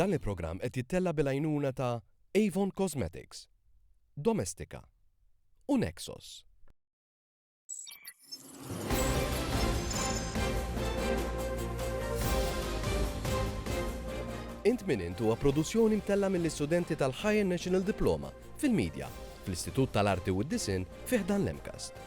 Dan il-programm qed jittella' bil-għajnuna ta' Avon Cosmetics, Domestika u Nexos. Int Min Int huwa produzzjoni mtella' mill-istudenti tal-Higher National Diploma fil-Media fl-Istitut tal-Arti u d-Disinn fi ħdan l-MCAST.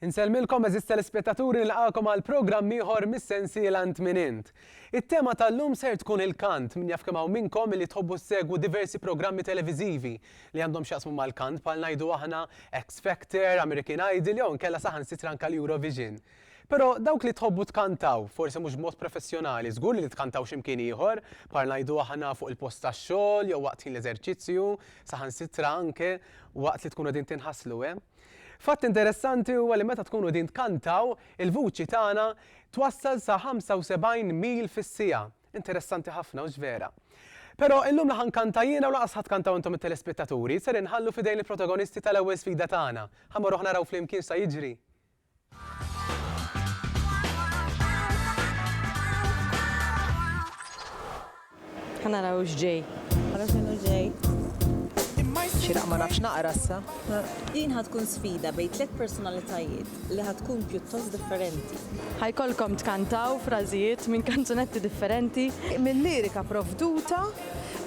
Insellmilkom eżiż telespettaturi nilqagħkom għal programm ieħor mis-sensiela Int Min Int. It-tema tal-lum ser tkun il-kant, min jaf kemm hawn minnkom li tħobbu ssegwu diversi programmi televiżivi li għandhom x'jaqsmu mal-kant bħal ngħidu aħna X Factor, American Idol jew inkella saħansitra anke l-Eurovision. Però dawk li tħobbu tkantaw, forsi mhux b'mod professjonali, żgur li tkantawx imkien ieħor, bħal ngħidu aħna fuq il-post tax-xogħol jew waqt ħin l-eżerċizzju, saħansitra anke waqt li tkunu qegħdin tinħaslu, eh? Fatt interessanti huwa li meta tkunu qegħdin tkantaw, il-vuċi tagħna twassal sa 75 mil fis-siegħa. Interessanti ħafna, hux vera? Però illum la ħa nkanta jiena u lanqas ħa tkantaw intom it-telespettaturi, ser inħallu f'idejn il-protagonisti tal-ewwel sfida tagħna. Ħa mmorruh naraw flimkien x'sa jiġri? Ħanaraw x'ġej. Ħanaraw x'inhu ġej. Xiraq ma nafx naqra issa. Din ħad tkun sfida bejn tliet personalitajiet li ħad tkun pjuttost differenti. Ħajkolkom tkantaw frażijiet minn kanzunetti differenti, minn lirika provduta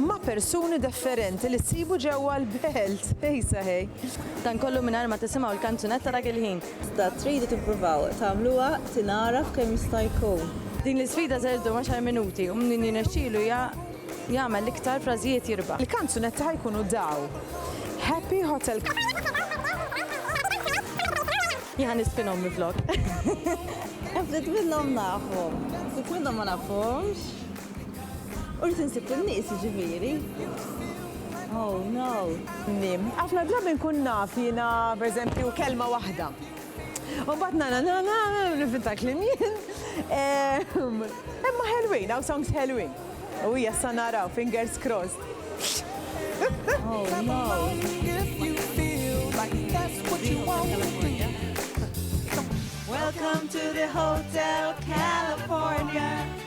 ma' persuni defferenti li ssibu ġewwa l-belt. Ej saħej! Dan kollu mingħajr ma tisimgħu l-kanzunetta dak il-ħin. Iżda tridu tippruvaw tagħmluha tingħaraf kemm jista' jkun. Din l-isfida ser iddum għaxar minuti u min jirnexxielu jagħmel l-iktar frażijiet jirbaħ. Il-kanzunetti ħa jkunu daw, Happy Hotel. Jien ħa nispinhom minflok. Ftit minnhom nafhom, ftit minnhom ma nafhomx. Urt insib in-nies jiġifieri. Oh no. Mim, Ħafna drabi nkun naf jiena pereżempju kelma waħda. U mbagħad na na na na nifita kliem jien. Ehm, imma ħelwin, hawn songs ħelwin. U hija sa naraw, fingers crossed. Oh no. Welcome to the Hotel California.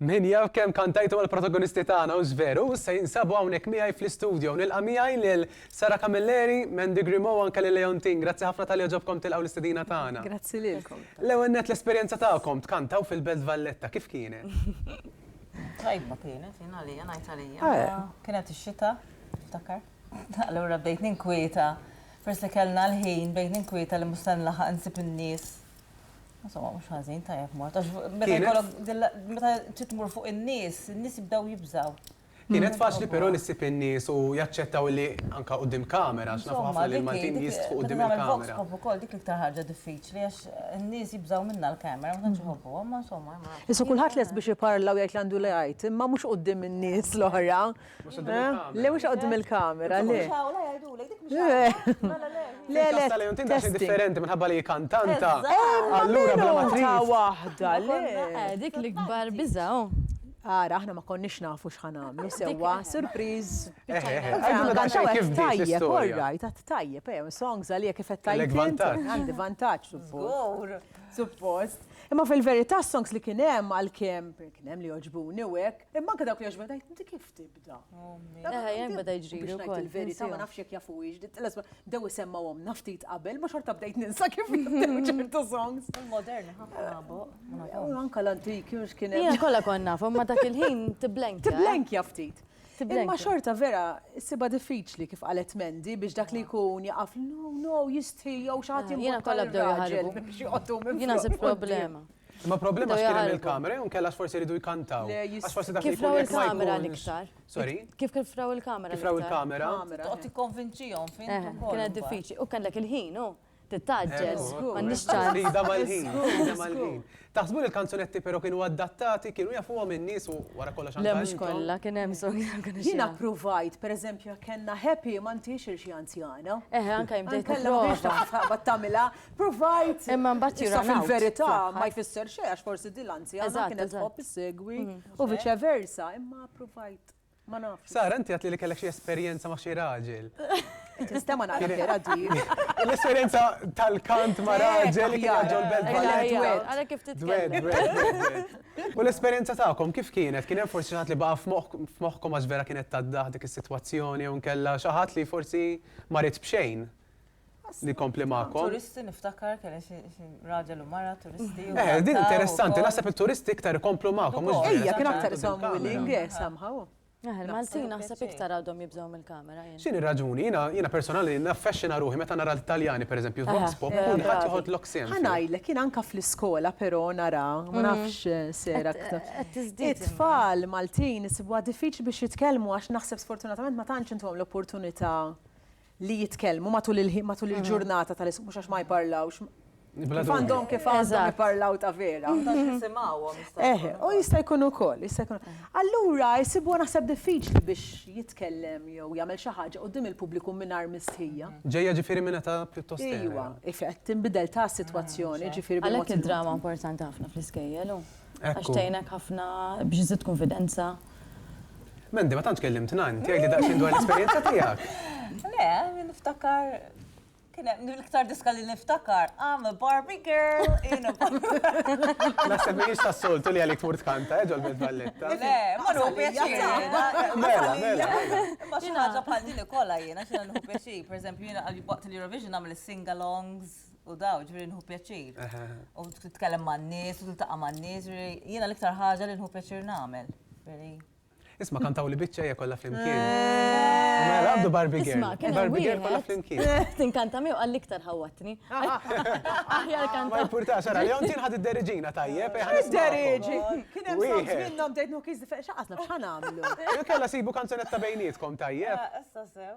Min jaf kemm kantajtu mal-protagonisti tagħna u żveru, se jinsabu hawnhekk miegħi fl-istudio. Nilqa' miegħi lil Sara Camilleri, Mandy Grimo anke lil Leontin. Grazzi ħafna tal ġobkom tilqgħu l-istedina tagħna. Grazzi lilkom. L-ewwel net l-esperjenza tagħkom tkantaw fil-Belt Valletta kif kienet? Tajba kienet, jien għalija ngħid għalija. Kienet ix-xita, ftakar. Allura bdejt ninkwieta, peress li kellna l-ħin, bdejt ninkwieta li mhux se nlaħaq insib in-nies. Insomma, mhux ħażin, tajjeb mort. Għax meta jkollok dil- meta trid tmur fuq in-nies, in-nies jibdew jibżgħu. Kienet faċli però li ssib in-nies u jaċċettaw li anke quddiem kamera, għax nafu ħafna li l-Maltin jistħu quddiem il-kamera. Insomma, dik hi, meta tagħmel vox pop ukoll, dik l-iktar ħaġa diffiċli għax in-nies jibżgħu minnha l-kamera, ma tantx iħobbuha, imma insomma. Issa kulħadd lest biex iparla u jgħid li għandu li jgħid, imma mhux quddiem in-nies l-oħra. Le mhux qoddim il-kamera, le. Le, le, le. differenti minħabba li kantanta. Allura bla ma trid. waħda, le. Dik l-ikbar biżaw. Ara, aħna ma konniex nafu x'ħan għamlu sewwa, surpriz. Tajjeb, all right, għat tajjeb, eh, songs għalija kif qed tajjeb. Għandi vantaġġ, suppost. Imma fil-verità songs li kien hemm għal kemm kien hemm li oġbuni u hekk. Imma anke dawk li għax beda jtinti kif tibda. Eħe, jen beda jġri. Biex najt il-verita, ma nafx jek jafu iġ, l-esma, dew semma għom, naftit qabel, ma xorta bdejt ninsa kif ċertu songs. Il-modern, ħafna U anka l-antiki, ux kien. Ija kolla konna, ma dak il-ħin tiblenk. Tiblenk jaftit. Imma xorta vera, siba diffiċli kif qalet Mendi biex dak li jkun jaqaf, no, no, jistħi, jow xaħat jimma. Jena kolla bdew jħarġu. Jena se problema. Imma problema x'kien hemm il-kamera jew inkella x'forsi jridu jkantaw. Għax forsi dak Kif raw il-kamera l-iktar? Sorry? Kif kif raw il-kamera? Kif raw il-kamera? Toqgħod tikkonvinċihom fin. Kienet diffiċli. U kellek il-ħin, hu? Tittaġġel. M'għandniex ċans. Rida mal-ħin. Rida mal-ħin. Taħsbu li l-kanzunetti però kienu adattati, kienu jafuhom in-nies u wara kollox għandhom. Le mhux kollha, kien hemm song kienu. Jiena ppruvajt, pereżempju, kellna Happy ma ntix irxi anzjana. Eħe, anke jimdejt. Kellha biex tagħmilha. Provajt. Imma mbagħad jirun out. Issa fil-verità ma jfisser xejn għax forsi din l-anzjana kienet tħobb issegwi u viċe versa, imma provajt. Ma nafx. Sara, inti għedt li kellek xi esperjenza ma' xi raġel. Tista' ma nagħraf vera di. L-esperjenza tal-kant ma' raġel li kien ġol belt bħal-dwed. Għalhekk kif titkellem. U l-esperjenza tagħkom kif kienet? Kien hemm forsi xi ħadd li baqa' f'moħħkom għax vera kienet taddah dik is-sitwazzjoni jew inkella xi ħadd li forsi ma rid b'xejn? Li kompli ma'kom. Turisti niftakar kelli xi raġel u mara turisti. Eh, din interessanti, naħseb it-turisti iktar ikomplu ma'kom. Ejja, kien aktar isom willing, eh, somehow. Eh, Il-Maltin naħseb iktar għadhom jibżgħu mill-kamera. X'inhi raġuni? Jiena personali naffexxina ruħi meta nara l-Italjani, pereżempju, f'Vox Pop, kulħadd joħod lok sehem. Ħa ngħidlek, jien anke fl-iskola però nara, ma nafx sejra aktar. It-tfal Maltin isibuha diffiċli biex jitkellmu għax naħseb sfortunatament ma tantx intuhom l-opportunità li jitkellmu matul il-ħin, matul il-ġurnata tal-iskull, mhux għax ma jparlawx. Kif għandhom kif għandhom jparlaw ta' vera. Eh, u jista' jkun ukoll, jista' jkun. Allura jsibu naħseb diffiċli biex jitkellem jew jagħmel xi ħaġa qudiem il-pubbliku mingħajr mistħija. Ġejja ġifieri minn ta' pjuttost. Iva, ifett tinbidel ta' sitwazzjoni, ġifieri bil-mod. Għalhekk id-drama importanti ħafna fl-iskejjel. Għax tgħinek ħafna biex iżid konfidenza. Mandy, ma tantx kellimtna int, jgħidli daqsxejn dwar l-esperjenza tiegħek. Le, niftakar kien hemm l-iktar diska li niftakar, I'm a Barbie girl in a Naħseb mhijiex tas-soltu li għalik tmur tkanta, eh, ġol Belt Valletta. Le, ma nħu pjaċir. Mela, mela. Ma xi ħaġa bħal din ikollha jiena xi nħu pjaċir, pereżempju jiena waqt l-Eurovision nagħmel is-singalongs. u daw, ġviri nħu pjaċir. U t-tkellem ma' n-nis, u t-taqa ma' n-nis, jena l-iktar ħagġa li nħu pjaċir namel. Isma kantaw li bicċa hija kollha flimkien. Eh. Mela għabdu Barbie Girl. Isma, kien Barbie Girl kollha flimkien. Eh, tinkanta miegħu għal iktar ħawatni. Aħjar kanta. Ma jimpurta xara, jew tin ħad id-deriġina tajjeb. Eh, id-deriġi. Kien hemm sons minnhom tgħid nukiż xaqatna x'ħan għamlu. Kellha sibu kanzunetta bejnietkom tajjeb. Issa sew.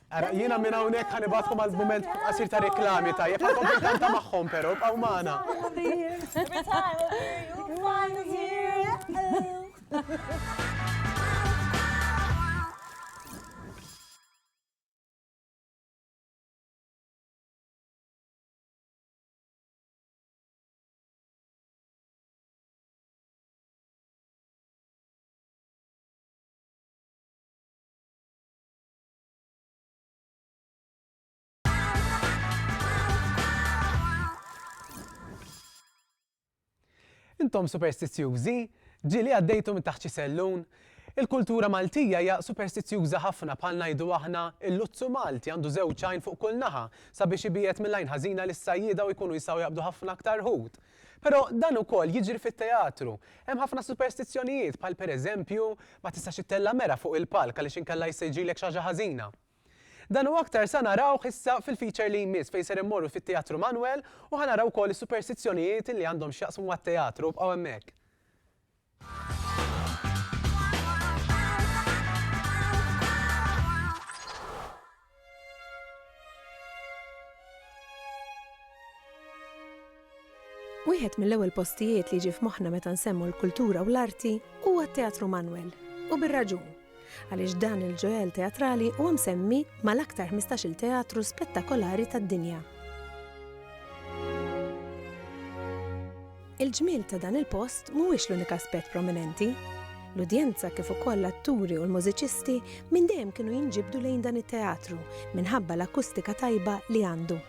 Ara, jiena minn hawnhekk ħa nibgħatkom għal mument qasir ta' reklami tajjeb, għandkom bil-kanta magħhom però, bqgħu magħna. Intom superstizzjużi? Ġieli għaddejtu minn taħt xi sellun? Il-kultura Maltija hija superstizzjuża ħafna bħal ngħidu aħna l-luzzu Malti għandu żewġ għajn fuq kull naħa sabiex ibiegħed mill-għajn ħażina lis-sajjieda u jkunu jistgħu jaqbdu ħafna aktar ħut. Però dan ukoll jiġri fit-teatru. Hemm ħafna superstizzjonijiet bħal per eżempju, ma tistax ittella' mera fuq il-palk għaliex inkella jista' jiġrilek xi ħaġa ħażina. Dan u aktar sa narawh issa fil-feature li jmiss fejn ser immorru fit-Teatru Manuel u ħa naraw ukoll is-superstizzjonijiet li għandhom x'jaqsmu mat-teatru, ibqgħu hemmhekk. Wieħed mill-ewwel postijiet li jiġi f'moħħna meta nsemmu l-kultura u l-arti huwa t-Teatru Manwel, u bir-raġun. għaliex dan il-ġuell teatrali huwa msemmi mal-aktar ħmistax-il teatru spettakolari tad-dinja. Il-ġmiel ta' dan il-post mhuwiex l-unika aspett prominenti. L-udjenza kif ukoll l-atturi u l-mużiċisti minn dejjem kienu jinġibdu lejn dan it-teatru minħabba l-akustika tajba li għandu.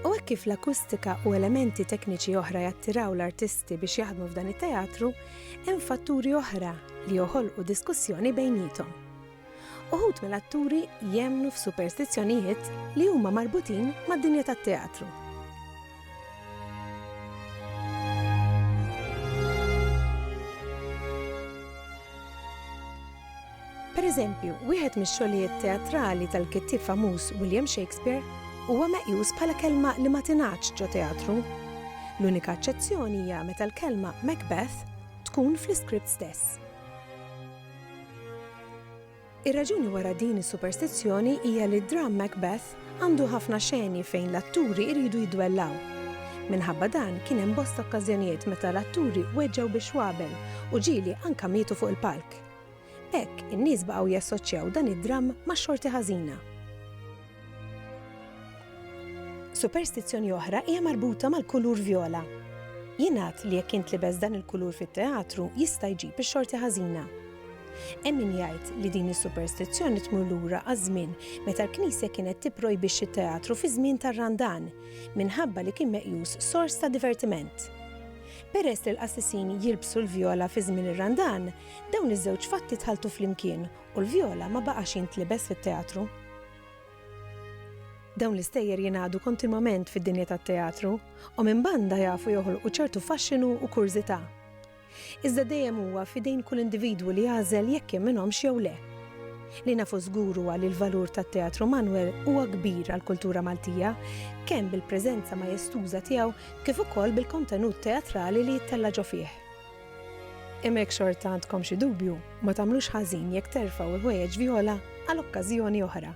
U hekk kif l-akustika u elementi tekniċi oħra jattiraw l-artisti biex jaħdmu f'dan it-teatru, hemm fatturi oħra li joħolqu diskussjoni bejniethom. Uħud mill-atturi jemmnu f'superstizzjonijiet li huma marbutin mad-dinja tat-teatru. Per eżempju, wieħed mix-xogħlijiet teatrali tal-kittieb famuż William Shakespeare huwa meqjus bħala kelma li ma tingħadx ġo teatru. L-unika eċċezzjoni hija meta l-kelma Macbeth tkun fl-iskript stess. Ir-raġuni wara din is-superstizzjoni hija li d-dramm Macbeth għandu ħafna xeni fejn l-atturi jridu jidwellaw. Minħabba dan kien hemm bosta okkażjonijiet meta l-atturi weġġgħu biex wabel u ġieli anka mietu fuq il-palk. B'hekk, in-nies baqgħu jassoċċjaw dan id-dramm max-xorti ħażina. Superstizzjoni oħra hija marbuta mal-kulur vjola. Jingħad li jekk jintlibes dan il-kulur fit-teatru jista' jġib ix-xorti ħażina. Hemm min jgħid li din is-superstizzjoni tmur lura għaż-żmien meta l-Knisja kienet tipprojbix it-teatru fi żmien tar-Randan minħabba li kien meqjus sors ta' divertiment. Peress li l-qassisin jilbsu l-vjola fi żmien ir-Randan, Dawn iż-żewġ fatti tħalltu flimkien u l-vjola ma baqax jintlibes fit-teatru. Dawn l-istejjer jingħadu kontinwament fid-dinja tat-teatru u minn banda jafu joħolqu ċertu faxxinu u kurżità. Iżda dejjem huwa f'idejn kull individwu li jagħżel jekk jemminhomx jew le. Li nafu żgur huwa li l-valur tat-Teatru Manwel huwa kbir għall-kultura Maltija, kemm bil-preżenza majestuża tiegħu kif ukoll bil-kontenut teatrali li jittella' ġo fih. Imma jekk xorta għandkom xi dubju, ma tagħmlux ħażin jekk terfgħu l-ħwejjeġ vjola għal okkażjoni oħra.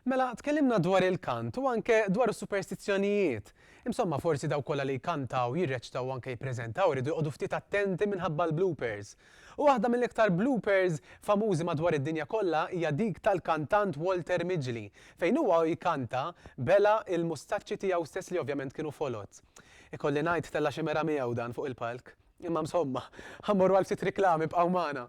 Mela, tkellimna dwar il-kant u anke dwar is-superstizzjonijiet. Imsomma, forsi daw kollha li jkantaw, jirreċtaw anke jippreżentaw iridu jqogħdu ftit attenti minħabba l-bloopers. Waħda mill-iktar bloopers famużi madwar id-dinja kollha hija dik tal-kantant Walter Midgley fejn huwa u jkanta bela' l-mustaċċi tiegħu stess li ovvjament kienu foloz. Ikolli ngħid tella' xi mera miegħu dan fuq il-palk. Imma msomma, ħa mmorru għal ftit riklami bqgħu magħna.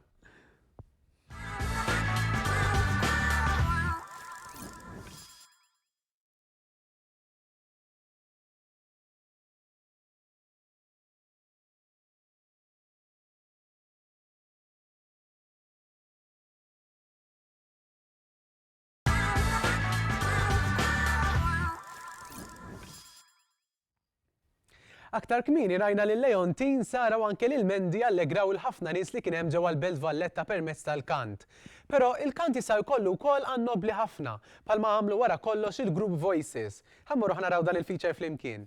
Aktar kmieni rajna lil Leontin, Sara u anke lil Mendi allegraw il-ħafna nies li kien hemm ġewwa l-Belt Valletta permezz tal-kant. Però il-kant jista' jkollu wkoll għan nobbli ħafna, bħalma għamlu wara kollox il-grupp Voices. Ħa mmorru ħa naraw dan il-feature flimkien.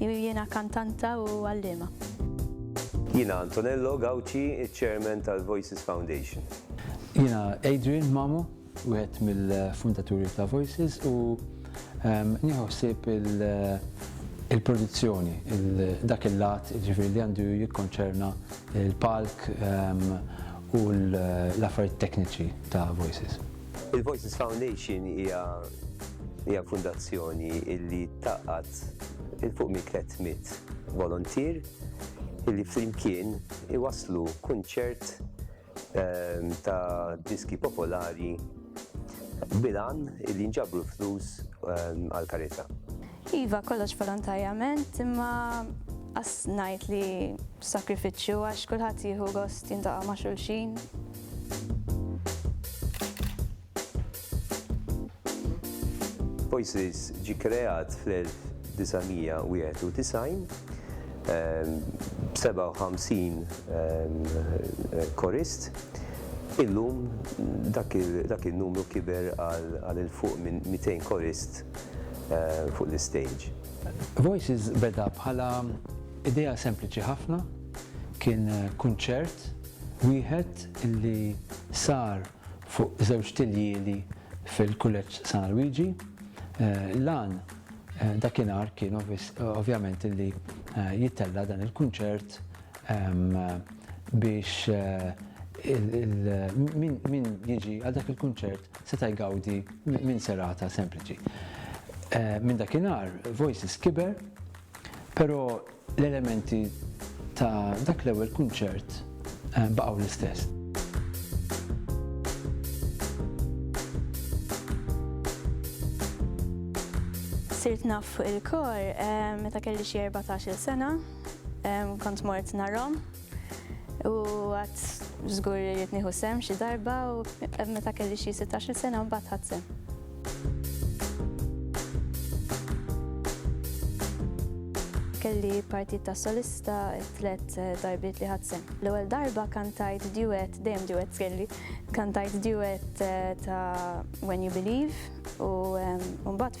Jiena kantanta u għalliema. Jiena Antonello Gauci, iċ-Chairman tal-Voices Foundation. Jiena Adrian Mamo, wieħed mill-fundaturi ta' Voices u nieħu ħsieb il-produzzjoni, dak il-lat jiġifieri li għandu jikkonċerna l-palk u l-affarijiet tekniċi ta' Voices. Il-Voices Foundation hija fundazzjoni li tgħaqqad 'il fuq minn 300 voluntier illi flimkien iwasslu kunċert ta' diski popolari bil-għan illi jinġabru flus għall-karità. Iva, kollox volontarjament, imma qas ngħid li b'sakrifiċċju għax kulħadd jieħu gost jintaqa' ma' xulxin. Voices ġie kreat fl-1991 b'57 korist. Illum dak in-numru kiber għal 'il fuq minn 200 korist fuq l-istejġ. Voices beda bħala idea sempliċi ħafna, kien kunċert wieħed li sar fuq żewġ tiljieli fil-Kulleġġ San Luigi. L-għan dakinhar kien ovvjament li jittella' dan il-kunċert biex min jiġi għal dak il-kunċert seta' jgawdi minn serata sempliċi. Minn dakinhar Voices kiber, però L-elementi ta' dak l-ewwel kunċert baqgħu l-istess. Sirt naf fuq il-kor meta kelli xi 14-il sena, kont mort narhom. U għad żgur li rrid nieħu sehem xi darba u meta kelli xi 16-il sena mbagħad ħadd sehem. Kelli partit ta' solista tliet eh, darbiet li ħadd sehem. L-ewwel darba kantajt duet, dejjem duet kelli, kantajt duet eh, ta' When You Believe u mbagħad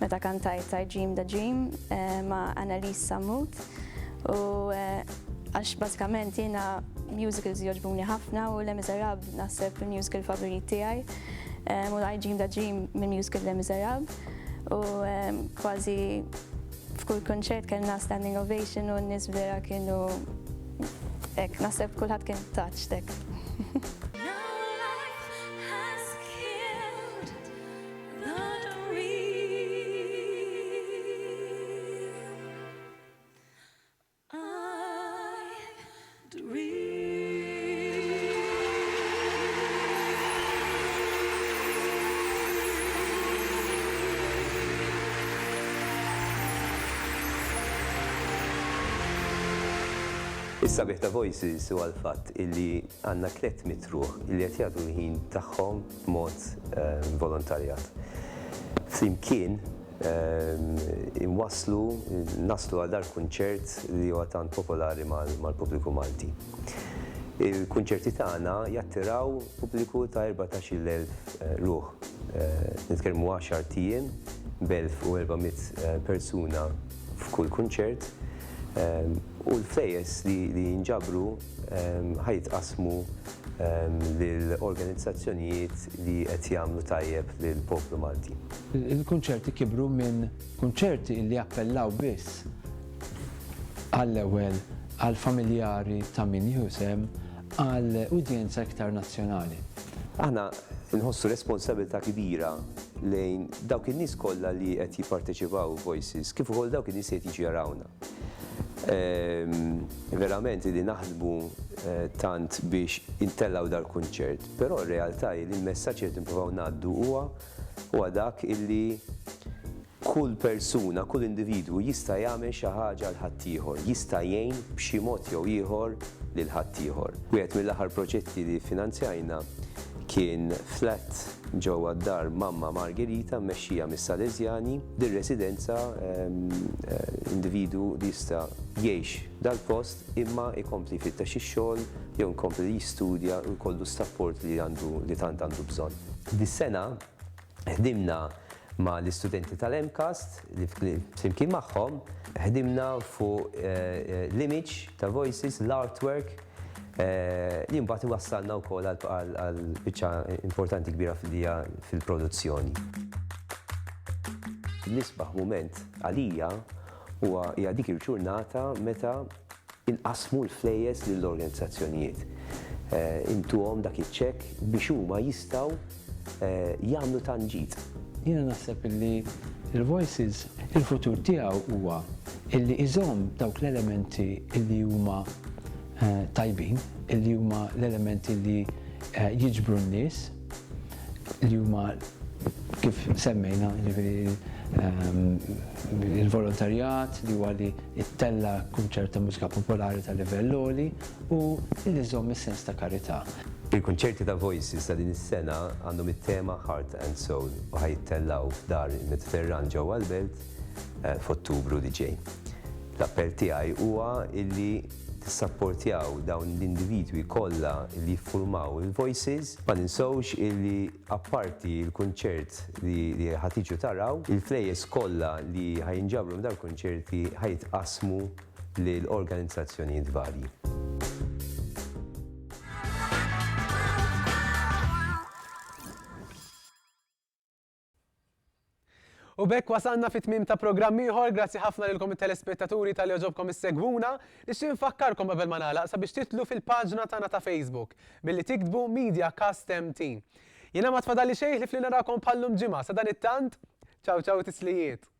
meta kantajt I Dream the Dream ma' Annalise Sammut u għax bażikament jiena musicals joġbuni ħafna u Le Miserab naħseb il-musical favorit tiegħi u I Dream the Dream minn musical Le Miserab u kważi f'kull konċert kellna standing ovation u n-nies vera kienu ek, nasib kulħadd kien taċ tek. Is-sabiħ ta' Voices huwa l-fatt illi għandna tlett mitt ruħ illi qed jagħtu l-ħin tagħhom b'mod volontarjat. Flimkien inwasslu, naslu għal dal-kunċert li huwa tant popolari mal-pubbliku Malti. Il-kunċerti tagħna jattiraw pubbliku ta' erbatax-il elf ruħ. Nitkellmu għaxart ijiem b'elf u erba' mitt persuna f'kull kunċert u l-flejjes li jinġabru ħa jitqassmu lil organizzazzjonijiet li qed jagħmlu tajjeb lill-poplu Malti. Il-kunċerti kibru minn kunċerti li appellaw biss għall-ewwel għall-familjari ta' min jieħu sehem għal udjenza iktar nazzjonali. Aħna nħossu responsabilità kbira lejn dawk in-nies kollha li qed jipparteċipaw f'Voices kif ukoll dawk in-nies li qed jiġu jarawna. Verament li naħsbu tant biex intellgħu dal-kunċert, però r-realtà hi li l-messaġġ li qed nippruvaw ngħaddu huwa huwa dak illi kull persuna, kull individwu jista' jagħmel xi ħaġa għal ħaddieħor, jista' jgħin b'xi mod jew ieħor lil ħaddieħor. Wieħed mill-aħħar proġetti li ffinanzjajna kien flat, Ġewwa d-dar Mamma Margherita mmexxija mis-Salesjani, din residenza individwu jista' jgħix dal-post imma jkompli jfittex ix-xogħol jew jkompli jistudja u jkollu s-sapport li għandu li tant għandu bżonn. Dis-sena ħdimna ma' l-istudenti tal-MCAST li flimkien magħhom ħdimna fuq l-image ta' Voices, l-artwork, li mbagħad iwassalna wkoll għal biċċa importanti kbira fil-dija fil-produzzjoni. L-isbaħ mument għalija huwa hija dik il-ġurnata meta inqasmu l-flejjes lill-organizzazzjonijiet. Intuhom dak iċ-ċekk biex huma jistgħu jagħmlu tant ġid. Jiena naħseb illi l-Voices il-futur tiegħu huwa illi iżomm dawk l-elementi illi huma tajbin, illi huma l-elementi illi jiġbru n-nies, li huma kif semmejna jiġifieri l-volontarjat li huwa li ttella' kunċert ta' mużika popolari ta' livell għoli, u li żżomm is-sens ta' karità. Il-kunċerti ta' Voices ta' din is-sena għandhom it-tema Heart and Soul u ħa jittellgħu f'Dar il-Mediterran ġewwa l-Belt f'Ottubru li ġej. L-appell tiegħi huwa illi tissapportjaw dawn l-individwi kollha li jiffurmaw il-Voices. Ma ninsewx illi apparti l-kunċert li ħa tiġu taraw, il-flejjes kollha li ħa jinġabru minn dawn il-kunċerti ħa jitqassmu lil organizzazzjonijiet varji. U bekk wasalna fit tmim ta' programm ieħor, grazzi ħafna lilkom it-telespettaturi tal joġobkom issegwuna, nixtieq nfakkarkom qabel ma nagħlaq sabiex titlu fil-paġna tagħna ta' Facebook billi tiktbu Media Cast MT. Jiena ma tfadalli xejn li fli narakom bħallum ġimgħa sa dan it-tant, ċaw ċaw tislijiet.